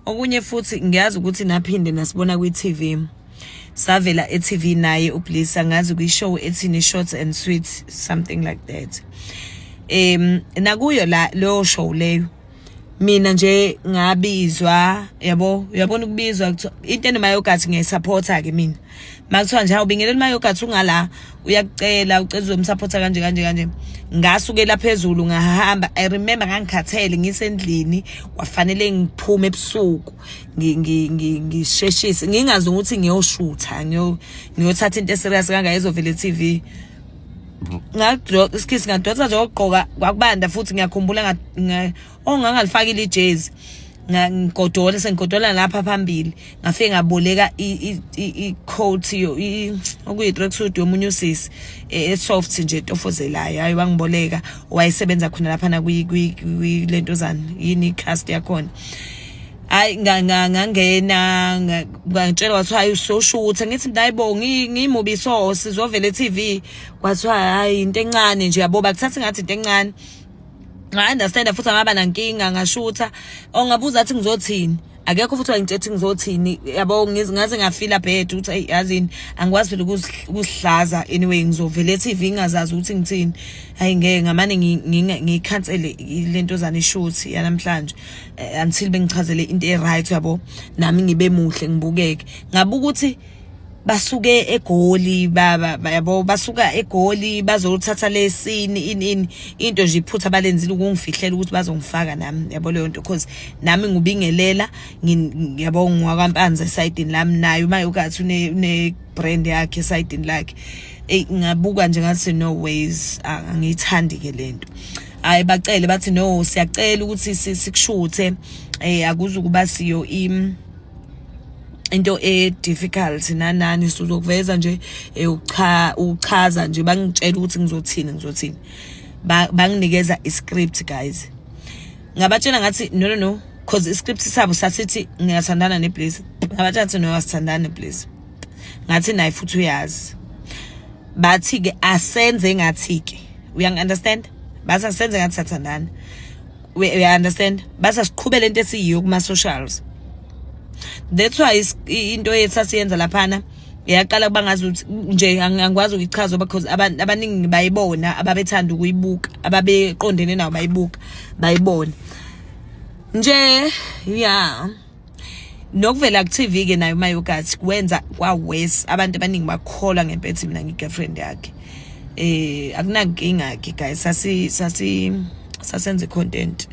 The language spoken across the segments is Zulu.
okunye futhi ngiyazi ukuthi naphinde nasibona kwi-tv savela e-tv naye ublisa ngazi kwishow ethini shorts and sweet something like that um nakuyo la leyo show leyo mina nje ngabizwa yabo uyabona ukubizwa into enemayogathi ngiyayisupporta-ke mina makuthiwa nje awubingelela umayogathi ungala uyakucela ucela uzomsapotha kanje kanje kanje ngasukela phezulu ngahamba i remember ngangikhathele ngisendlini kwafanele ngiphume ebusuku ngisheshise ngingazi ukuthi ngiyoshutha ngiyothatha into eserious kangaka ezovele TV ngadroka isikhithi ngadonsa nje okugqoka kwakubanda futhi ngiyakhumbula ongangalifakile ijezi ngigodole sengigodola lapha phambili ngafike ngaboleka i-coat okuyi-tracksuit yomunye usisi e, e-soft nje etofozelayo hayi wangiboleka wayesebenza khona lapha nakulento zani yini i-cast yakhona hayi ngangena ngangitshela kwathiwa hayi usosho ukuthi angithi ndayibo ngimubi so sizovela e-tv kwathiwa hayi into encane nje yabo bakuthatha ngathi into encane I understand futhi angaba nankinga ngashutha ongabuza athi ngizothini akekho futhi wangitshethi ngizothini yabo ngaze ngafila bad ukuthi ayi yazini angikwazi phela ukusihlaza anyway ngizovele TV ingazazi ukuthi ngithini hayi ngeke ngamane ngikhansele lento zani shoot yanamhlanje eh, until bengichazele into e right yabo nami ngibe muhle ngibukeke ngabuka ukuthi basuke egoli baba yabo basuka egoli bazothatha lesini in in into nje iphutha balenzile ukungifihlela ukuthi bazongifaka nami yabo leyo nto cause nami ngubingelela yabo ngwakwampanza esayidini lami naye uma ukathi une ne brand yakhe esayidini lakhe ey ngabuka nje ngathi no ways angiyithandi ke lento hayi bacele bathi no siyacela ukuthi sikushuthe eh akuzukuba siyo im into e difficult nanani sizokuveza nje eh, ucha uchaza nje bangitshela ukuthi ngizothini ngizothini banginikeza i script guys ngabatshela ngathi no no no cause i script sabo sasithi ngiyathandana ne please ngabatshela ukuthi no asithandane please ngathi naye futhi uyazi bathi ke asenze ngathi ke uyangi understand basa senze ngathi sathandana we, we understand basa siqhubele into esiyiyo kuma socials that's why into yethu asiyenza laphana yaqala kuba ngazi ukuthi nje angikwazi ukuyichaza because abantu abaningi bayibona ababethanda ukuyibuka ababeqondene nawo bayibuka bayibona nje yeah nokuvela ku TV ke nayo mayogathi kwenza kwa worse abantu abaningi bakholwa ngempethu mina ngi girlfriend yakhe eh akunankinga ke guys sasi sasi sasenze content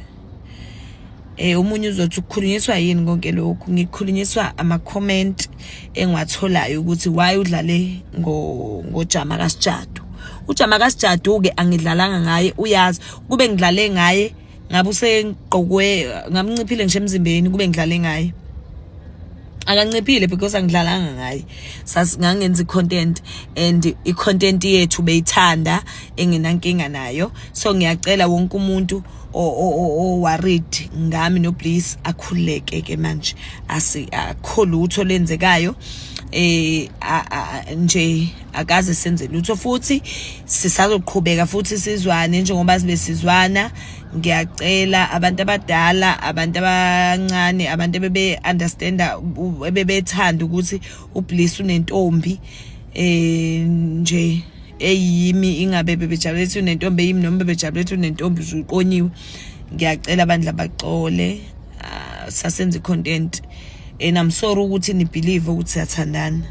eh umunye uzothi ukukhulunyiswa yini konke lokhu ngikhulunyiswa ama comment engiwatholayo ukuthi why udlale ngo ngojama kasijadu ujama kasijadu ke angidlalanga ngaye uyazi kube ngidlale ngaye ngabe usegqokwe ngamnciphile ngisho emzimbeni kube ngidlale ngaye akanciphile because angidlalanga ngaye ngangenza i-content and i-content yethu beyithanda engenankinga nayo so ngiyacela wonke umuntu oworried ngami nobliss akhululeke ke manje akho lutho lenzekayo eh nje akaze senze lutho futhi sisazoqhubeka futhi sizwane njengoba sibe sizwana ngiyacela abantu abadala abantu abancane abantu bebe understanda bebethanda ukuthi ubliss unentombi eh nje eyimi ingabe bebejabule ukuthi unentombi eyimi noma bebejabule ukuthi unentombi uqonyiwe ngiyacela abantu labaxole ah, sasenza content and i'm sorry ukuthi ni believe ukuthi siyathandana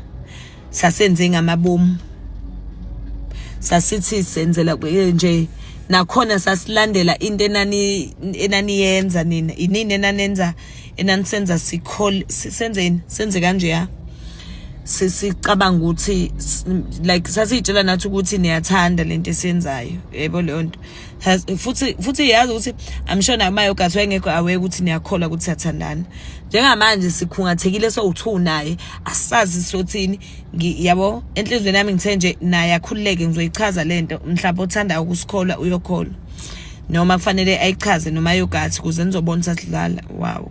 sasenze ngamabomu sasithi senzela nje nakhona sasilandela into enani enaniyenza nina inini enanenza enanisenza sikhol senzeni senze kanje ya sisicabanga ukuthi like sasiyitshela nathi ukuthi niyathanda lento esenzayo yebo leyo nto has futhi futhi yazi ukuthi i'm sure namayo gathi wayengekho aware ukuthi niyakholwa ukuthi siyathandana njengamanje sikhungathekile sowu-two naye asazi sothini yabo enhlizweni yami ngithe nje naye akhululeke ngizoyichaza le nto mhlawumbe othandayo ukusikholwa uyokholwa noma kufanele ayichaze noma yogathi kuze nizobona sasidlala wow